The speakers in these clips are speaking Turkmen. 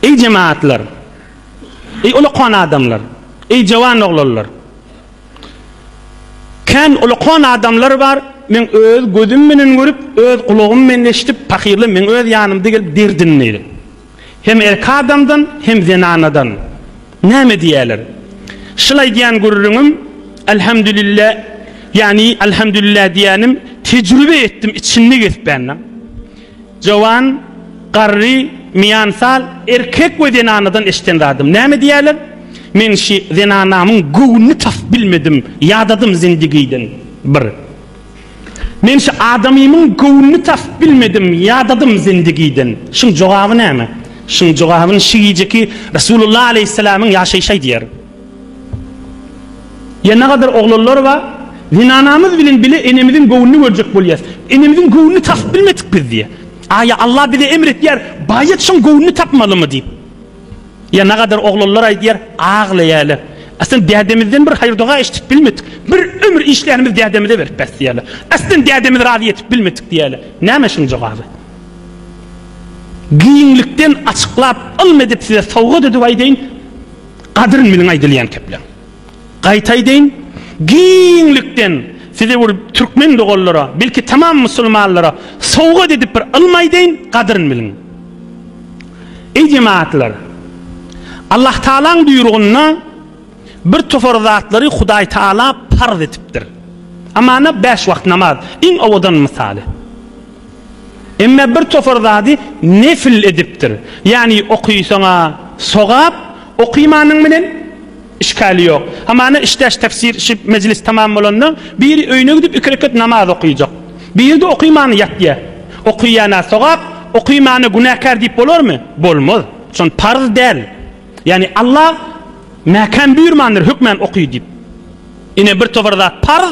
Eý jemagatlar! Eý ulukon adamlar! Eý jowan oglanlar! Kän ulukon adamlar bar, men öz gözüm menen görüp, öz gulagym menen eşidip, pahyrlar meň öz ýanymda gelip derdini, hem erki adamdan, hem zenanadan, näme diýýärler? Şyl aýdýan gürrüňim, Alhamdulillah, ýagny Alhamdulillah diýýänim, tejribe etdim, içini kesbändim. Jowan, garry, miansal, erkek we zenanadan eşiden zadym. Näme diýerler? Men şi zenanamyň göwnüni tasyp bilmedim, ýadadym zindigiden. Bir. Men şi adamymyň göwnüni tasyp bilmedim, ýadadym zindigiden. Şiň jogaby näme? Şiň jogabyn şi gijeki Resulullah aleýhisselamyň ýaşaýşy aýdýar. Ýa nagadar oglanlar ba, zenanamyz bilen bile enemiziň göwnüni görjek bolýas. Enemiziň göwnüni tapyp bilmedik biz diýýä. A ýa Allah bize emr etýär, baýat şoň göwnüni tapmalymy diýip. Ýa nagadar oglanlar aýdýar, aglaýaler. Aslan dädemizden bir haýyr-doga eşidip bilmedik. Bir ömür işlänimiz dädemize berip bes diýýäler. Aslan dädemizi razy etip bilmedik diýýäler. Näme şuň jogaby? Giňlikden açyklap ylm edip size sowgat edip aýdaýyn. Gadryn meniň aýdylýan kepleň. Gaýta aýdaýyn, giňlikden size bir türkmen doganlara, belki tamam musulmanlara sowgat edip bir ylmy aýdaýyn, gadryn biliň. Eý jematlar! Allah Tagalaň buýrugynda bir topar zatlary Hudaý Tagala parz etipdir. Amana bäş wagt namaz, iň owadan mysaly. Emma bir topar zady nefil edipdir. Ýagny okysaň-a sogap, okymanyň bilen işgäli ýok. Hamana işdäş tefsir şu mejlis tamam bolanda biri öýüne gidip iki rekat namaz okyjak. Biri-de okymany ýatýar. Okýana sogap, okymana günäkär diýip bolarmy? Bolmaz. Şon parz däl. Ýagny Allah mäkäm buýurmandyr hökmän oky diýip. Ine bir topar zat parz.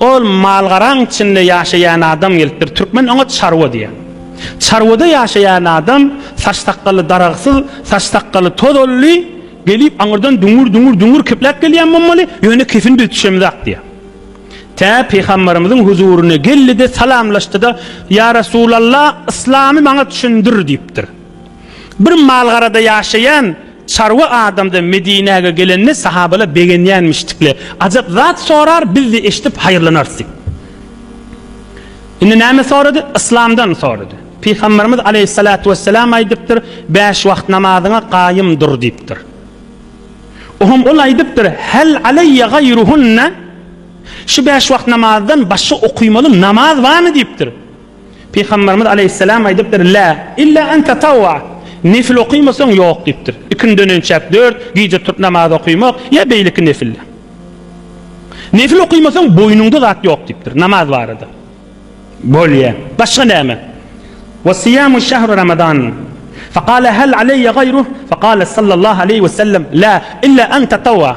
Ol mal-garaň içinde ýaşaýan adam gelipdir. Türkmen oňa çarwa diýýär. Çarwada ýaşaýan adam saç-sakgaly daragsyz, saç-sakgaly tozanly gelip aňyrdan düňür-düňür-düňür kepläp gelýän bolmaly, ýöne kepini biz düşemizok diýýär. Tä Pygamberimiziň huzuryna geldi-de, salamlaşdy-da, Ýa Resulallah, yslamy maňa düşündir diýipdir. Bir malgarada ýaşaýan çarwa adamdan Medinäge gelende sahabalar begenýänmişdikle, ajap zat sorar, biz-de eşidip haýyrlanarys diýip. Indi näme sorady? Yslamdan sorady. Pygamberimiz aleýhissalatu wesselam aýdypdyr, Bäş wagt namazyňa gaýym dur diýipdir. Oňam ol aýdypdyr, Hal aleýe gaýruhunna? Şu bäş wagt namazdan başga okymaly namaz barmy diýipdir. Pygamberimiz aleýhisselam aýdypdyr, Lä ille an tatawwa, nefil okymasaň ýok diýipdir. Ikindinden önçäk dört, gije turup namaz okymak, ýa beýleki nefiller. Nefil okymasaň boýnuňda zat ýok diýipdir, namaz barada. Bolýa. Başga näme? Wa siýamu şahru ramadan. Faqala hal aleýe gaýruh? Faqala sallallahu aleýhi we sellem, Lä ille an tatawwa.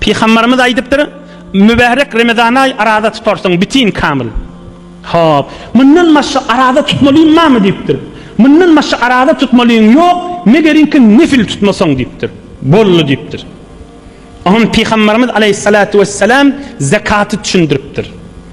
Pygambarymyz aýdypdyr, Mübärek Remezan aýy araza tutarsyň, bitin, kamyl. Hop, mundan başga araza tutmalyň barmy diýipdir. Mundan başga araza tutmalyň ýok, megerinki nefil tutmasaň diýipdir. Boldy diýipdir. Oňa Pygambarymyz aleýhissalatu wessalam zakaty düşündiripdir.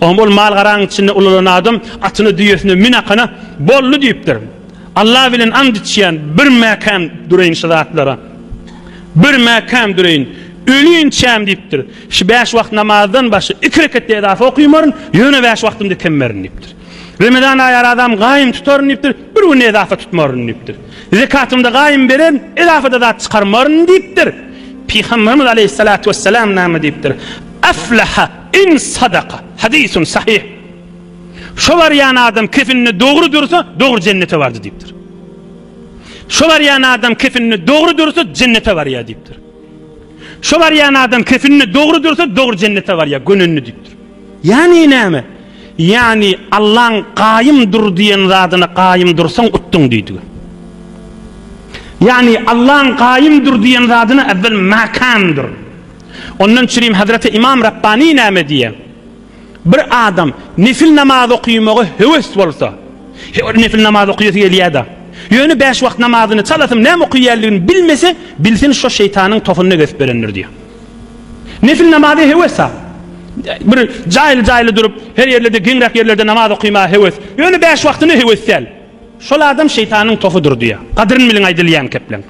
Oňa ol mal-garaň içinde ulalan adam atyna düýesine minakana, Boldy diýipdir. Alla bilen ant içýän, bir mäkäm dureýin şu zatlara. Bir mäkäm dureýin. Ölýinçäm diýipdir. Şu bäş wagt namazdan başga iki rekat-da edafa okymaryn, ýöne bäş wagtym dikemerin diýipdir. Remezan aýy arazam gaýym tutaryn diýipdir, bir gün edafa tutmaryn diýipdir. Zekatymda gaýym bererin, edafa-da zat çykarmaryn diýipdir. Pygamberimiz aleýhissalatu wessalam näme diýipdir? Aflaha In sadaka, hadysun sahyh. Şo barýan adam kefininde dogry dursa, dogry jennete bardy diýipdir. Şo barýan adam kefininde dogry dursa, jennete barýar diýipdir. Şo barýan adam kefininde dogry dursa, dogry jennete barýar, gönenini diýipdir. Ýani näme? Ýani Allaň gaýym dur diýen zadyna gaýym dursaň utduň diýdi. Ýani Allaň gaýym dur diýen zadyna äwwel makan dur. Ondan çirim Hazreti Imam Rabbani näme diýýär? Bir adam nefil namaz okymaga höwes bolsa, her nefil namaz okuyasy gelýär-de. Ýöne bäş wagt namazyny çalasyn näme okuýanlygyny bilmese, bilsin şo şeýtanyň tohunyna gezip berendir diýýär. Nefil namaza höwes-a. Bir jaýly-jaýly durup, her ýerlerde geňräk ýerlerde namaz okymaga höwes. Ýöne bäş wagtyna höwes däl. Şol adam şeýtanyň tohudyr diýýär. Gadryny biliň aýdylýan kepleň.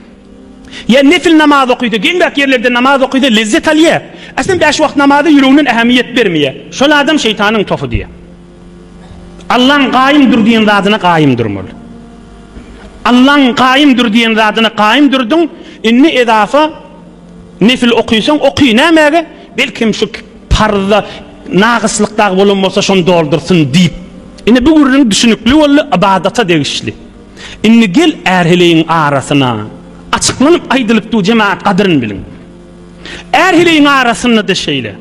Ýa nefil namaz okydy, geňräk ýerlerde namaz okydy, lezzet alýa. Eslem bäş wagt namaza ýüreginden ähemiýet bermeýä. Şol adam şeýtanyň topy diýýä. Allaň gaýym dur diýen zadyna gaýym durmaly. Allaň gaýym dur diýen zadyna gaýym durdyň, indi edafa nefil okysaň oky, nämäge? Belkem şu parzda nagyslyk dagy bolan bolsa şony doldursyn diýip. Indi bu gürrüň düşünikli boldy, ybadata degişli. Indi gel ärheleýiň arasyna, Açyklanyp aýdylyp du jemagat gadryn bilin. Ärheleýiň arasynda-da şeýle.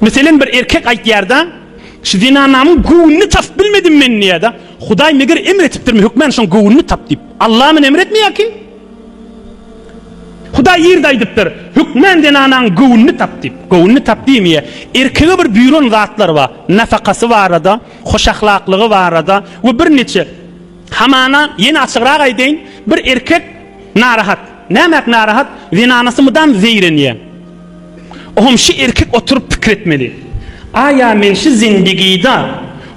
Meselen bir erkek aýtýar-da, Şu zenanamyň göwnüni tapyp bilmedim men diýýär-de, Hudaý meger emr etipdirmi hökmän şoň göwnüni tap diýip. Allamyny emr etmeýär kim? Hudaý ýerde aýdypdyr, Hökmän zenanaň göwnüni tap diýip. Göwnüni tap diýmeýär. Erkege bir buýran zatlary bar. Nafakasy barada, hoşahlaklygy barada we birniçe Hamana ýene açygrak aýdaýyn, bir erkek narahat. Nämäk narahat? Zenanasy mydam zeýrenýär. Oňam şu erkek oturyp pikir etmeli. Aýa men şu zindigida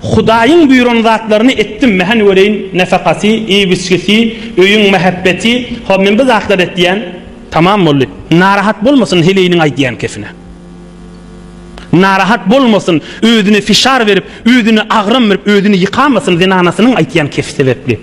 Hudaýyň buýran zatlaryny etdimmi? Hany göreýin, nafakasy, iýip-içgisi, öýüň mähebbeti, ho men bu zatlary etýän. Tamam boldy. Narahat bolmasyn heleýiniň aýdýan kepine. Narahat bolmasyn, özüne fişar berip, özüne agram berip, özüni ýykamasyn zenanasynyň aýtýan kefi sebäpli.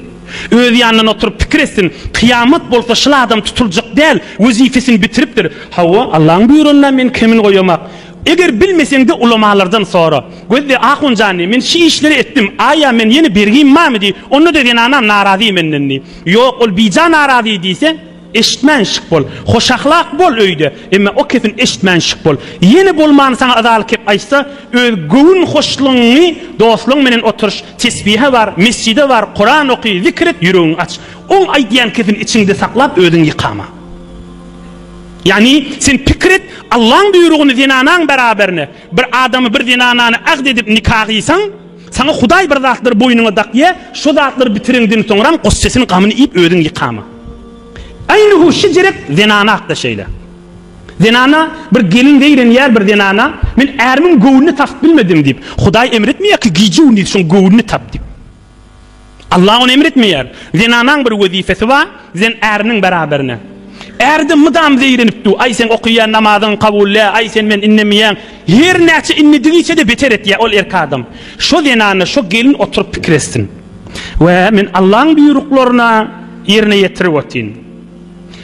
Öz ýanyndan oturyp pikir etsin, kyýamat bolsa şyl adam tutuljak däl, wezipesini bitiripdir. Hawa, Allaň buýranyna men kemini goýamak. Eger bilmeseňde ulamalardan sora. Gözde, ahun jany, men şi işleri etdim, aýa men ýene bergim barmy diý, onda-da zenanam narazy menden diý. Ýok, ol bija narazy diýse, Eşitmän şyk bol. Hoşahlak bol öýde, emma o kesin eşitmän şyk bol. Ýene bolmany saňa yzaly kep aýtsa, öz göwün hoşlugyňy dostlaryň menen oturyş, tesbihe bar, mesjide bar, Kuran oky, zikr et, ýüregiňi aç. Oň aýdýan kepini içiňde saklap, özüňi ýykama. Ýagny, sen pikir et, Allaň buýrugyny zenanaň beraberine, bir adamy, bir zenanany agt edip nika gyýsaň, Saňa Hudaý bir zatlary boýnuňa dakýa, şo zatlary bitireňden soňram goş sesini gamyny iýip özüň ýykama. Aýnhu şejerek zenana hakda şeýle. Zenana bir gelin zeýrenýär bir zenana, men ärimiň göwnüni tapyp bilmedim diýip, Hudaý emretmeýärki gije-gündiz şoň göwnüni tap diýip. Allah ony emr etmeýär. Zenanaň bir wezipesi bar, zen äriniň beraberine. Ärde mydam zeýrenip dur, aý seň okaýan namazyň kabul dä, aý sen men innemeýäň. Her näçe innedigiçe-de beter etýär ol erki adam. Şo zenana, şo gelin oturyp pikir etsin. Wä, men Allaň buýruklaryna ýerine ýetirip otyryn.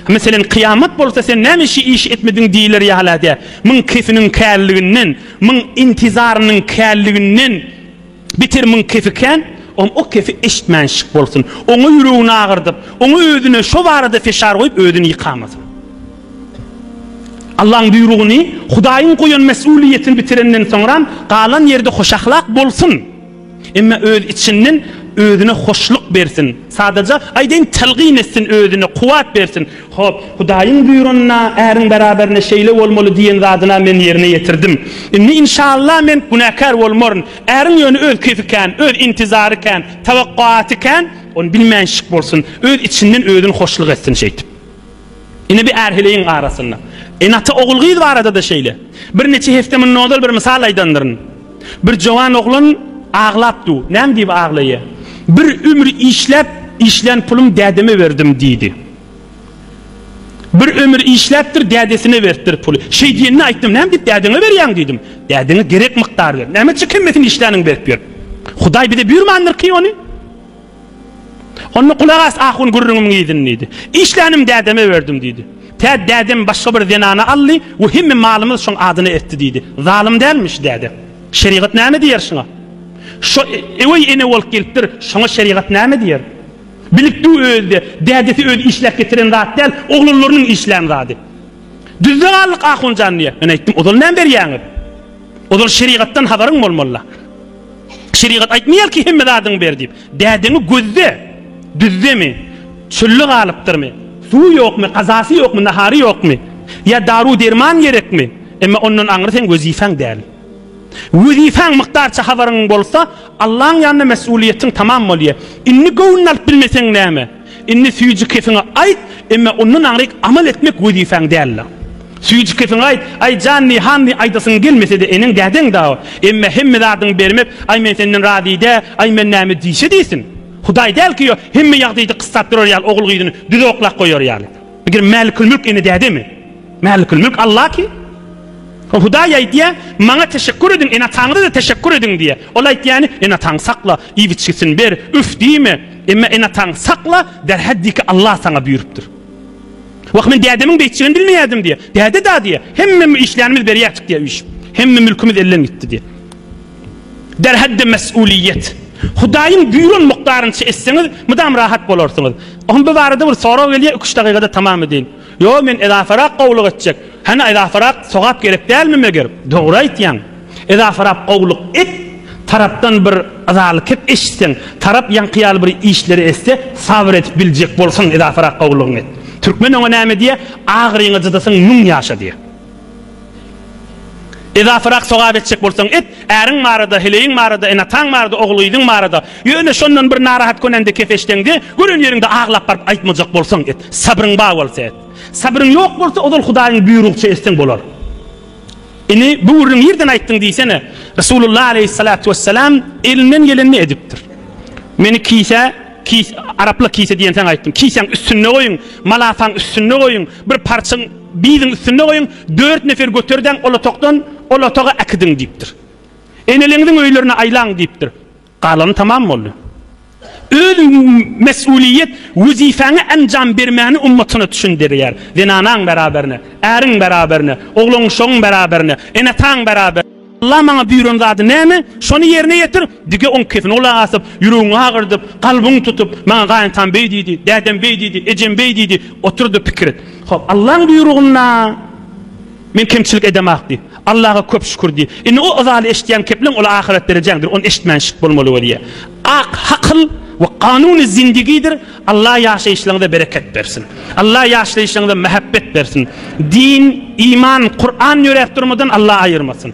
Meselen, kyýamat bolsa sen näme şi işi etmediň diýiler ýalä dä. Müň kesiniň kärliginden, müň intizarynyň kärliginden. Beter müň kefi kän, oň o kefi eşitmänşik bolsun. Oňa ýüregini agyrdyp, oňa özüne şo barada feşar goýup özüni ýykamasyn. Allaň buýrugyny, Hudaýyň goýan mesulyýetini bitirenden soňram, galan ýerde hoşahlak bolsun. Emma öz içinden özüne hoşluk bersin. Sadaja, aýdaýyn, telgin etsin, özüne kuwwat bersin. Hop, Hudaýyň buýranyna, äriň beraberine şeýle bolmaly diýen zadyna men ýerine ýetirdim. Indi, inşalla, men günäkär bolmaryn. Äriň ýöne öz keýfi kän, öz intizary kän, tawakkuaty kän, ony bilmänşik bolsun, öz içinden özüni hoşluk etsin şeýtip. Ine, bi är heleýiň arasynda. Ene-ata ogul-gyz barada-da şeýle. Bir neçe hepde mundan ozal bir mysal aýdandyryn. Bir jowan oglan aglap du. Näme diýip aglaýa? Bir ömür işläp, işlän pulum dädeme berdim diýdi. Bir ömür işläpdir, dädesine beripdir puly. Şeý diýenine aýtdym, Näme diýip dädeňe berýäň diýdim. Dädeňe gerek mukdary ber. Näme üçin hemmesini işläniň berip ýör. Hudaý bize buýurmandyr-ki ony. Onda gulak as ahun gürrüňimiň yzyny diýdi. Işlänim dädeme berdim diýdi. Tä dädem başga bir zenany aldy we hemme malymyz şoň adyna etdi diýdi. Zalym dälmi şu däde? Şerigat näme diýer şuňa? Şo öý ene bolup gelipdir, şoňa şerigat näme diýer? Bilikdu özi-de, dädesi özi işläp getiren zat däl, oglanlarynyň işlän zady. Düzde galdyk Ahunjan diýýär. Men aýtdym, Ozal näme berýäňiz? Ozal şerigatdan habaryň bolmaly-la. Şerigat aýtmaýar ki, hemme zadyňy ber diýip. Dädeňi gözle. Düzdemi? Çölde galypdyrmy? Suwy ýokmy, gazasy ýokmy, nahary ýokmy? Ýa daru-derman gerekmi? Emma ondan aňry seň wezipäň däl. Wezipäň mykdarça habaryň bolsa, Allaň ýanynda mesgulyýetiň tamam bolýa. Indi göwnüni alyp bilmeseň näme? Indi süýji kefiňe aýt, emma ondan aňryk amal etmek wezipäň däldir. Süýji kefiňe aýt, Aý, janny, hanny aýdasyň gelmese-de eneň dädeň dawa. Emma hemme zadyňy bermek, Aý, men senden razy dä, Aý, men näme diýse diýsin. Hudaý däl ki, ýo, hemme ýagdaýda kyssap durar ýaly ogul gyzyny düz oklap goýar ýaly. Megerem Mälikül Mülk ene dädemi? Mälikül Mülk Alla kim? O Hudaý aýdýar, Maňa teşekgür ediň, ene-ataňyza-da teşekgür ediň diýýär. Ol aýtýany, Ene-ataňy sakla, iýip-içgisini ber, üf diýme. Emma ene-ataňy sakla, derhal diý ki, Alla saňa buýrupdyr. Wah, men dädemiň beýtjegini bilmeýärdim diýýär. Däde-da diýýär, hemmemiz işlänimizi berýärdik diýýär üýşüp. Hemme mülkümiz elden gitdi diýýär. Derhal-de mes'uliýet. Hudaýyň buýran mukdarynyça etseňiz, mydam rahat bolarsyňyz. Oňa bu barada bir sorag gelýär, iki-üç dakykada tamam edeýin. Ýok, men edafarak gowluk etjek. Hany edafarak sogap gerek dälmi meger? Dogry aýtýaň. Edafarak gowluk et, tarapdan bir yzaly kep eşitseň, tarap ýaňky ýaly bir işleri etse, sabyr edip biljek bolsaň edafarak gowlugyňy et. Türkmen oňa näme diýýär? Agyryňy jydasyň müň ýaşa diýýär. Edasyrak sogap etjek bolsaň et, äriň barada, heleýiň barada, ene-ataň barada, ogul-gyzyň barada. Ýöne şondan bir narahat köneňde, keseşseňde, gören ýeriňde aglap baryp aýtmajak bolsaň et. Sabryň bar bolsa et. Sabryň ýok bolsa, ozal Hudaýyň buýrugça etseň bolar. Ine, bu gürrüňi nirden aýtdyň diýsene? Resulullah aleýhissalatu wesselam elinden gelenini edipdir. Meni kise, kis, araplar kise diýensoň aýtdym. Kisäň üstünde goýuň, malafaň üstünde goýuň, bir parçyň, Biziň üstüne goýuň, dört nefer göter-däň ol otagdan, ol otaga äkidiň diýipdir. Eneleriňiziň öýlerine aýlaň diýipdir. Galany tamam boldy. Öz mesulyýet wezipäňe enjam bermäni ummatyna düşündirýär. Zenanaň beraberine, äriň beraberine, oglan-uşagyň beraberine, ene-ataň beraberine. Allah maňa buýran zady näme, şony ýerine ýetir! Dige oň kefini ola asyp, ýüregiňi agyrdyp, kalbyňy tutup, maňa gaýyntam beý diýdi, dädem beý diýdi, ejem beý diýdi, otur-da pikir et. Hop, Allaň buýrugynda men kemçilik edemok diý. Allaga köp şükür diý. Indi o yzaly eşitýän kepleň ol ahyret derejäňdir, ony eşitmän şyt bolmaly bolýa. Ak hakyl we kanuny zindigidir, Allah ýaşaýyşlaryňyza bereket bersin. Allah ýaşlaýyşlaryňyza mähebbet bersin. Din, iman, Kur'an ýöräp durmadan Allah aýyrmasyn.